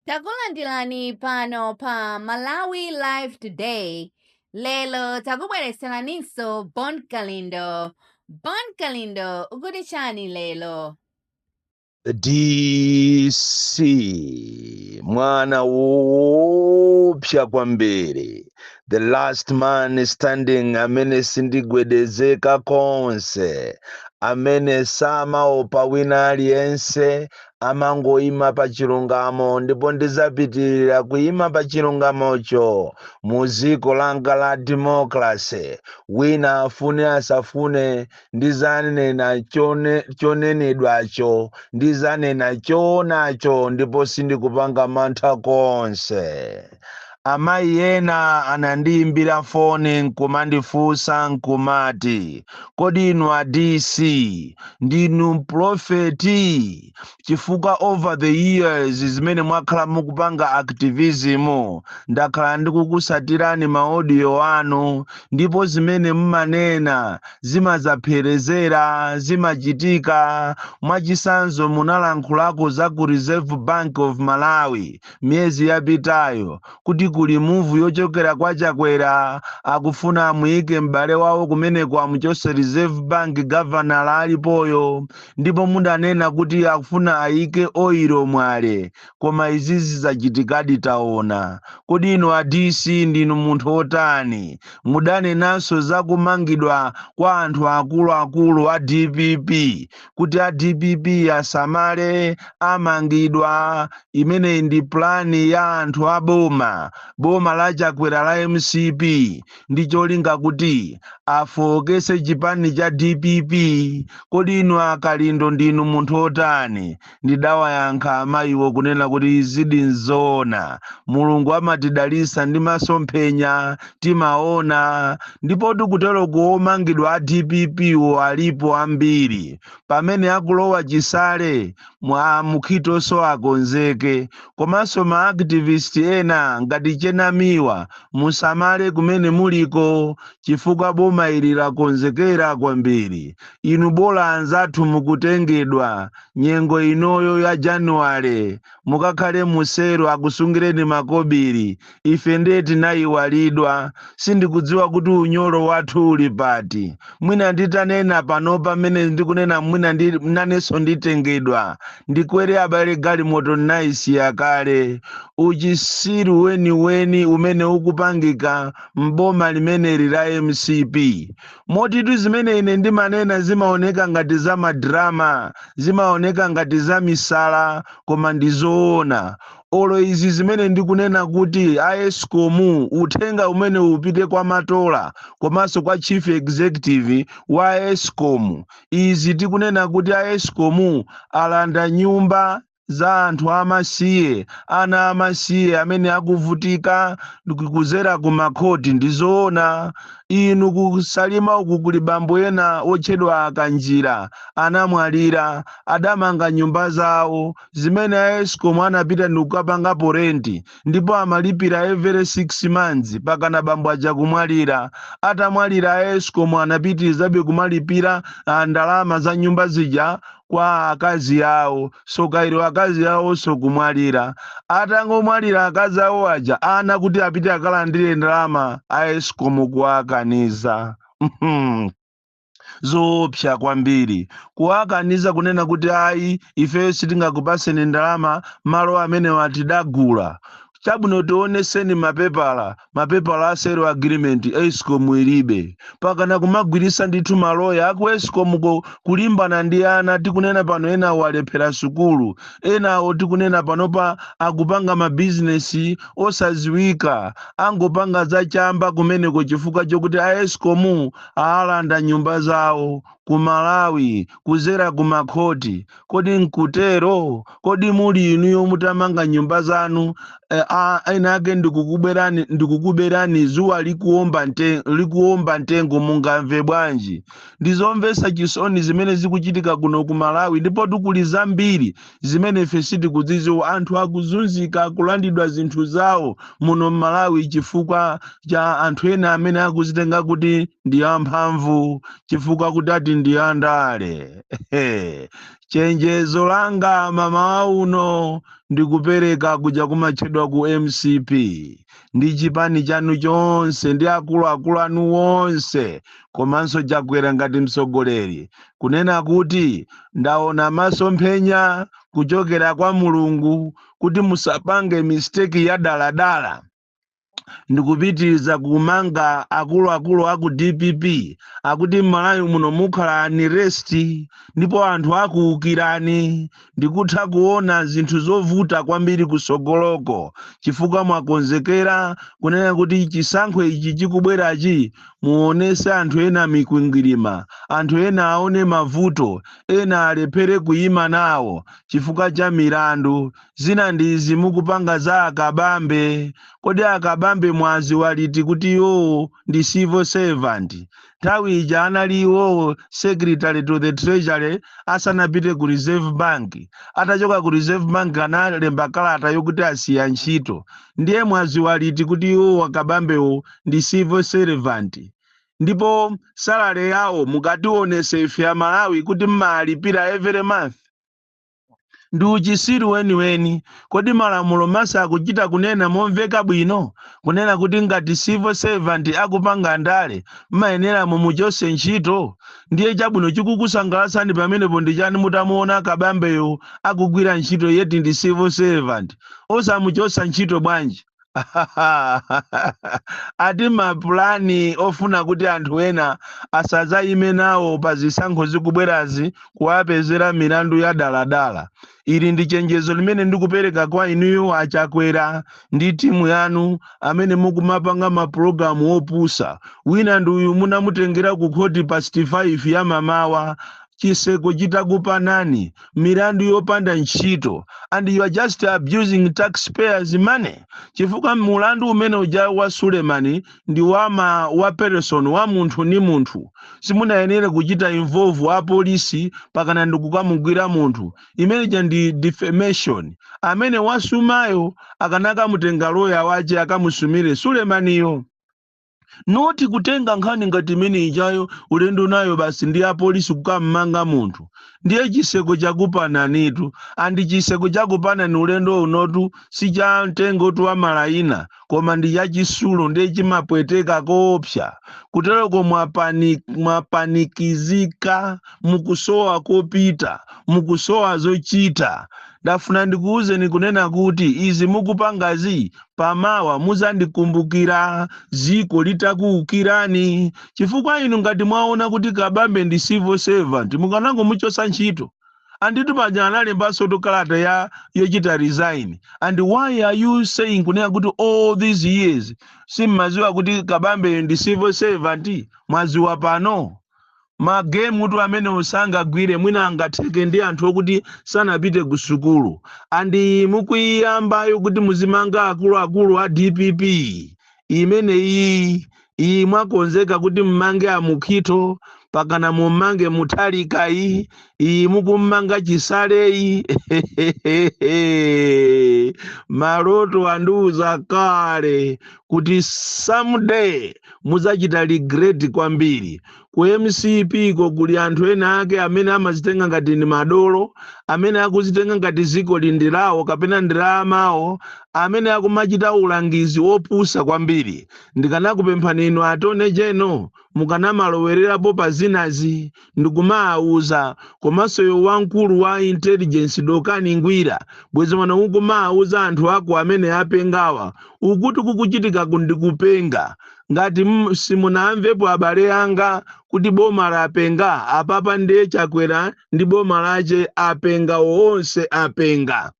Takulandirani pano pa Malawi Live Today. Lero takubweretseraninso Bon Kalindo. Bon Kalindo ukuti chani lero? DC mwana woopsa kwambiri the last man standing amene sindigwedezeka konse amene samaopa wina aliyense amangoima pa chilungamo ndipo ndizapitirira kuima pa chilungamocho mu dziko langa la democracy wina afune asafune ndizanena chonenedwacho ndizanena choonacho ndipo sindikupanga mantha konse Amayi ena anandiimbira foni n'kumandifunsa n'kumati, Kodi inu a DC ndinu mpulofeti? Chifukwa over the years zimene mwakhala mukupanga activism, ndakhala ndikukusatirani ma audio anu ndipo zimene mumanena zimadzapherezera, zimachitika. Mwachisanzo munalankhulako za ku Reserve Bank of Malawi miyezi yapitayo kuti kuli muvu yochokera kwa chakwera akufuna amuyike m'bale wawo kumeneko amuchose reserve bank gavanala alipoyo ndipo mudanena kuti akufuna ayike oiro mwale koma izi zachitikadi taona kodi inu a dc ndinu munthu wotani mudanenanso za kumangidwa kwa anthu akuluakulu a dpp kuti a dpp asamale amangidwa imeneyi ndi pulani ya anthu a boma boma la chakwera la mcp ndi cholinga kuti afookese chipani cha dpp kodi inu a kalindo ndinu munthu otani ndidawayankha amayiwo kunena kuti izidi nzoona mulungu amatidalisa ndi masomphenya timaona ndipo tikuteroko omangidwa a dpp wo alipo ambiri pamene akulowa chisale mwamukhitonso akonzeke komanso ma activist ena ngati chenamiwa musamale kumene muliko chifukwa boma ili lakonzekera kwambiri inu bola anzathu mukutengedwa nyengo inoyo ya januwale mukakhale mu selo akusungireni makobiri ife ndiye tinayiwalidwa sindikudziwa kuti unyolo wathu uli pati mwina nditanena panopa mmene ndikunena mwina ndi nanenso nditengedwa ndikwere abale galimoto ndinayisiya kale uchisiru weniweni umene ukupangika m'boma limeneli la mcp motitu zimene ine ndimanena zimaoneka ngati za madrama zimaoneka ngati za misala koma ndi zoona olo izi zimene ndikunena kuti a escom uthenga umenewu upite kwa matola komanso kwa chief executive wa escom izi tikunena kuti a escom alanda nyumba za anthu amasiye ana amasiye amene akuvutika kuzera ku makhoti ndi zoona inu ku salima uku kuli bambo ena otchedwa a kanjira anamwalira adamanga nyumba zawo zimene a escom anapita ndikukapangapo renti ndipo amalipira every 6 months pakana bambo aja kumwalira atamwalira a escom anapitirizabe kumalipira ah, ndalama za nyumba zija kwa akazi awo sokhalako akazi awoso kumwalira atangomwalira akazi awo aja ana kuti apite akalandire ndalama a escom kuwakaniza Mhm. zoopsa kwambiri kuwakaniza kunena kuti ayi ifeyo sitingakupaseni ndalama malo amenewa tidagula chabwino tioneseni mapepala mapepala a sale agreement escom ilibe pakana kumagwiritsa ndithu maloya aku escomko kulimbana ndi ana tikunena pano enawo alephera sukulu enawo tikunena panopa akupanga mabizinesi osaziwika angopanga zachamba kumeneko chifukwa chokuti a escom alanda nyumba zawo ku malawi kuzera ku makhoti kodi nkutero kodi muli inuyo mutamanga nyumba zanu eh, a- ena ake ndikukuberani ndikukuberani zuwa likuomba nte, likuomba ntengo mungamve bwanji ndizomvesa chisoni zimene zikuchitika kuno ku malawi ndipo tu kuli zambiri zimene ife sitikuzidziwa anthu akuzunzika akulandidwa zinthu zawo muno mmalawi chifukwa cha anthu ena amene akuzitenga kuti ndi amphamvu chifukwa kuti ati ndi andale Ehe. chenjezo langa mmamawa uno ndikupereka kuja kumatchedwa ku mcp ndi chipani chanu chonse ndi akuluakulu anu wonse komanso chakwera ngati mtsogoleri kunena kuti ndaona masomphenya kuchokera kwa mulungu kuti musapange misteki ya daladala ndikupitiriza kumanga akuluakulu aku dpp pakuti m'malawi muno mukhala unrest ndipo anthu akuukirani Ndikutha kuona zinthu zovuta kwambiri kutsogoloko chifukwa mwakonzekera kunena kuti chisankho ichi chikubwerachi muonese anthu ena mikwingwirima, anthu ena aone mavuto, ena alephere kuima nawo chifukwa cha milandu. Zina ndi izi mukupanga za a Kabambe. Kodi a Kabambe mwadziwa liti kuti iwowo ndi civil servant? nthawi ija anali iwowo secretary to the treasury asanapite ku reserve bank atachoka ku reserve bank analemba kalata yokuti asiya ntchito ndiye mwaziwa liti kuti iwo akabambewo ndi civil servant ndipo salary yawo mukatiwonese ife amalawi kuti mmalipira every month ndi uchisiru weniweni kodi malamulo mesa akuchita kunena momveka bwino kunena kuti ngati civil servant akupanga ndale mmayenera mumuchose ntchito ndiye chabwino chikukusangalatsani pamenepo ndi chani mutamuona kabambeyo akugwira ntchito yet ndi civil servant osamuchosa ntchito bwanji ati mapulani ofuna kuti anthu ena asadzayime nawo pa zisankho zikubwerazi kuwapezera milandu ya daladala ili ndi chenjezo limene ndikupereka kwa inuyo achakwera ndi timu yanu amene mukumapanga mapulogalamu opusa wina ndi uyu munamutengera ku khoti past 5 ya mamawa chiseko chitakupanani milandu yopanda ntchito and you are just abusing taxpayers money chifukwa mulandu umene uja wa suleman ndi wama wa person wa munthu ni munthu simunayenere kuchita involve apolisi pakana ndikukamugwira munthu imene ija ndi defamation amene wasumayo akanakamutenga loya wache akamusumire sulemaniyo not kutenga nkhani ngati imene ijayo ulendo nayo basi ndi apolisi kukammanga munthu ndiye chiseko chakupananitu and chiseko chakupanani ulendo unotu si cha mtengo tu wa malayina koma ndi cha chisulo ndiye chimapweteka koopsa kutereko mwapanikizika mukusowa kopita mukusowa zochita ndafuna ndikuwuzeni kunena kuti izi mukupangazi pamawa muzandikumbukira ziko litakuukirani chifukwa inu ngati mwaona kuti kabambe ndi civil servant mukanangomuchosa ntchito anditu paja analembasotu kalata ya yochita resign and why are you saying kunena kuti all these years simmaziwa kuti kabambe ndi civil servant mwaziwa pano ma game tu amenewo sangagwire mwina angatheke ndi anthu okuti sanapite ku sukulu and iyi mukuyiyambayo kuti muzimanga akuluakulu a dpp imene iyi iyi mwakonzeka kuti mmange amukhito pakana mummange mutharika iyi iyi mukummanga chisaleyi maloto andiuza kale kuti someday mudzachita regret kwambiri ku mcp ko kuli anthu ena ake amene amazitenga ngati ndi madolo amene akuzitenga ngati zikoli ndi lawo kapena ndi la amawo amene akumachita ulangizi wopusa kwambiri ndikanakupemphani inu attorney general mukanamalowererapo pa zinazi ndikumaawuza komanso iwe wamkulu wa intelligence dokani ngwira bwezi mwana ukumaawuza anthu ako amene apengawa ukuti kukuchitikaku ndikupenga ngati m- simunamvepo abale anga kuti boma lapenga apapa ndiye chakwera ndi boma lache apenga onse apenga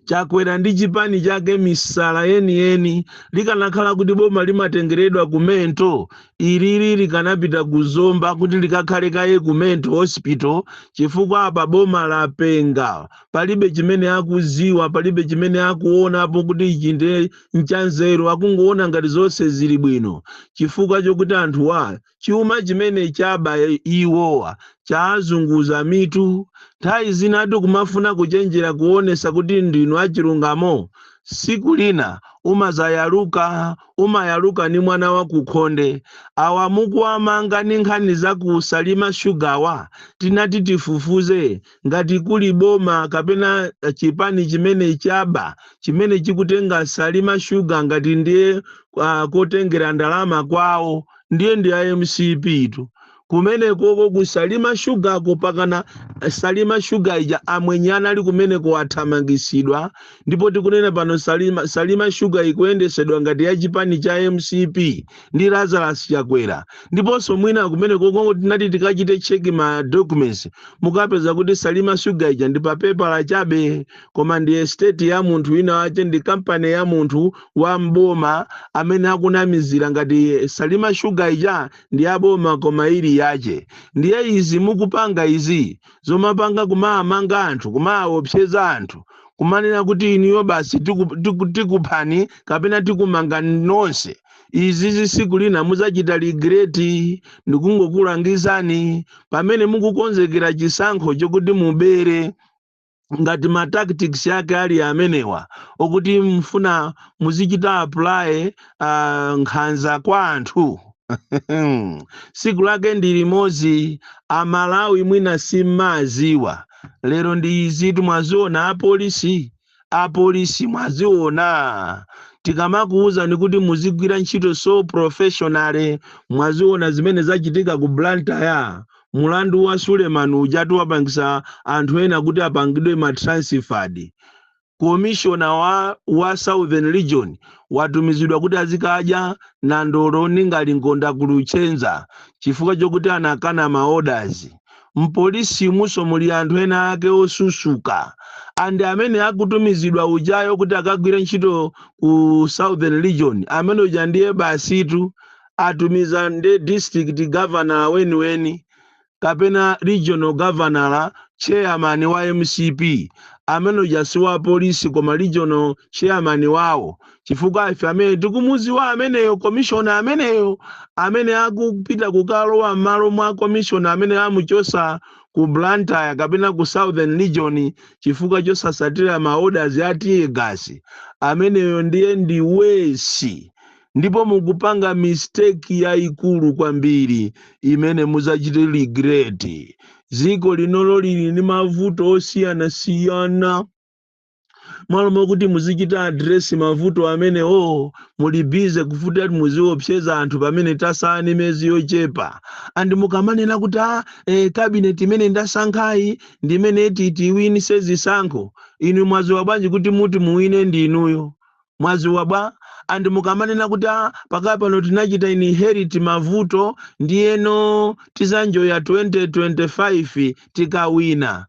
chakwera ndi chipani chake misala yeniyeni likanakhala kuti boma limatengeredwa ku mental ilili likanapita ku zomba kuti likakhale kaye ku mental hospital chifukwa apa boma lapenga palibe chimene akuziwa palibe chimene akuonapo kuti ichi ndi nchanzeru akungoona ngati zonse zili bwino chifukwa chokuti anthuwa Chuma chimene chaba iwowa chaazunguza mitu. Nthawi zinatu kumafuna kuchenjera kuonesa kuti ndinu achilungamo. Siku lina umazayaluka, umayaluka ni mwana wa ku khonde. Awa mukuwamanga ni nkhani za ku Salima Sugar-wa? Tinati tifufuze ngati kuli boma kapena chipani chimene chaba chimene chikutenga Salima Sugar ngati ndiye kotengera ndalama kwawo. ndiye ndi a mcp tu kumenekoko ku salima sugar ko mpakana salima sugar ija amwenye anali kumeneko athamangisidwa ndipo tikunena pano salima, salima sugar ikuyendesedwa ngati ya chipani cha mcp ndi lazarus chakwera ndiponso mwina kumenekoko tinati tikachite check ma documents mukapeza kuti salima sugar ija ndi papepala chabe koma ndi estate ya munthu wina wache ndi kampani ya munthu wa m'boma amene akunamizira ngati salima sugar ija ndi ya boma koma ili yache ndiye izi mukupanga izi zomapanga kumaamanga anthu kumaawopseza anthu kumanena kuti inuyo basi tiku- tiku- tikuphani kapena tikumanga nonse izi zi- siku lina muzachita regret ndikungokulangizani pamene mukukonzekera chisankho chokuti mubere ngati ma tactics ake ali amenewa okuti mfuna muzichita apply uh, nkhanza kwa anthu siku lake ndi limodzi amalawi mwina simmaziwa lero ndi izitu mwaziona apolisi apolisi mwaziona tikamakuwuzani kuti muzigwira ntchito so professionally mwaziona zimene zachitika ku blantyre Mulandu wa Suleman ujatu wapangisa anthu ena kuti apangidwe ma transferred. Commissioner wa southern region watumizidwa kuti azikadya nandolo ndi ngalingonda ku Luchenza chifukwa chokuti anakana ma orders. Mpolisimunso muli anthu ena ake osusuka and amene akutumizidwa ujayo kuti akagwire ntchito ku southern region amene uja ndiye basitu atumiza nde district governor weniweni kapena regional governor chairman wa mcp amene uja si wa polisi koma regional chairman wawo chifukwa ife amene tikumuziwa ameneyo commissioner ameneyo amene akupita kukalowa m'malo mwa commissioner amene amuchosa ku blantyre kapena ku southern region chifukwa chosasatira maorders a tiyegasi ameneyo ndiye ndi wesi ndipo mukupanga mistake yayikulu kwambiri imene mudzachite regret dziko linolo lili ndi mavuto osiyanasiyana malo mokuti muzichita address mavuto amenewo muli bize kufuna ati muziopseza anthu pamene tasala ni mezi yochepa and mukamanena kuti a eh, kabineti imene ndasankhayi ndi imene iti tiwinise zisankho inu mwaziwa bwanji kuti muti muwine ndi inuyo Mwaziwa bwa? And mukamanena kuti a pakali pano tinachita inherit mavuto ndiyeno tizaenjoya 2025 tikawina.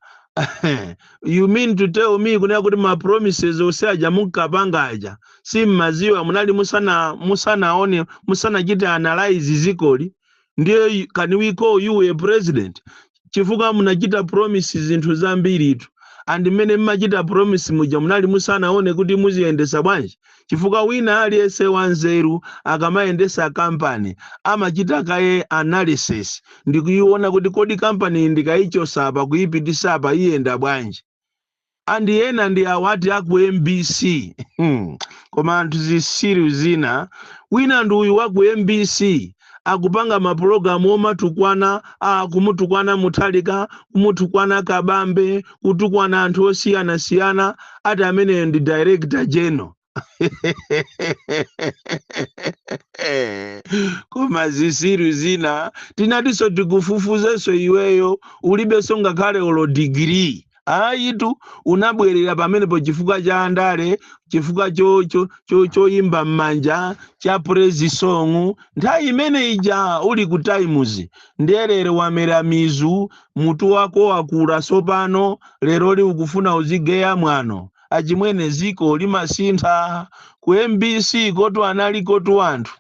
you mean to tell me kunena kuti ma promises onse aja munkapanga aja simumaziwa munali musanaone musanachite analyze zikoli ndiye can we call you a president chifukwa munachita promise zinthu zambiritu and mmene mmachita promise muja munali musanaone kuti muziyendesa bwanji chifukwa wina aliyense wanzeru akamayendesa kampani amachita kaye analysis ndikuiona kuti kodi kampani ndikaichosa apa kuipitisa apa iyenda bwanji andi ena ndi awati aku mbc koma anthu zisiru zina wina ndi uyu waku mbc akupanga mapulogalamu omatukwana a kumutukwana muthalika kumutukwana kabambe kutukwana anthu osiyanasiyana ati ameneyo ndi director general koma zisiru zina tinatiso tikufufuzeso iweyo ulibeso ngakhale olo degree ayitu unabwerera pamenepo chifukwa cha andale chifukwa cho- cho- cho- choyimba m'manja cha praise song nthawi imene ija uli ku times ndiye lero wamera mizu mutu wako wakula sopano lero li ukufuna uzigeya mwano achimwene ziko limasintha ku mbc kotu analikotu anthu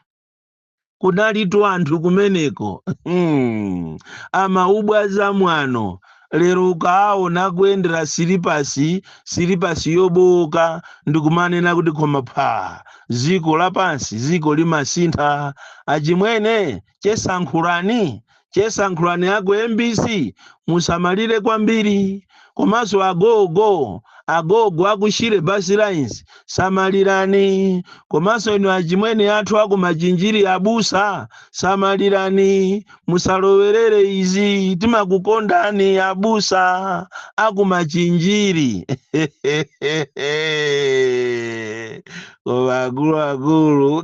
kunalitu anthu kumeneko hmm. amabwaza mwano lero ukaaona kuyendera silipasi silipasi yobowoka ndikumanena kuti koma pha ziko lapansi ziko limasintha achimwene chesankhulani chesankhulani aku mbc musamalire kwambiri komanso agogo agogo akushire bus lines samalirani komanso inu achimwene athu aku machinjiri abusa samalirani musalowerere izi timakukondani abusa aku machinjiri koma akuluakulu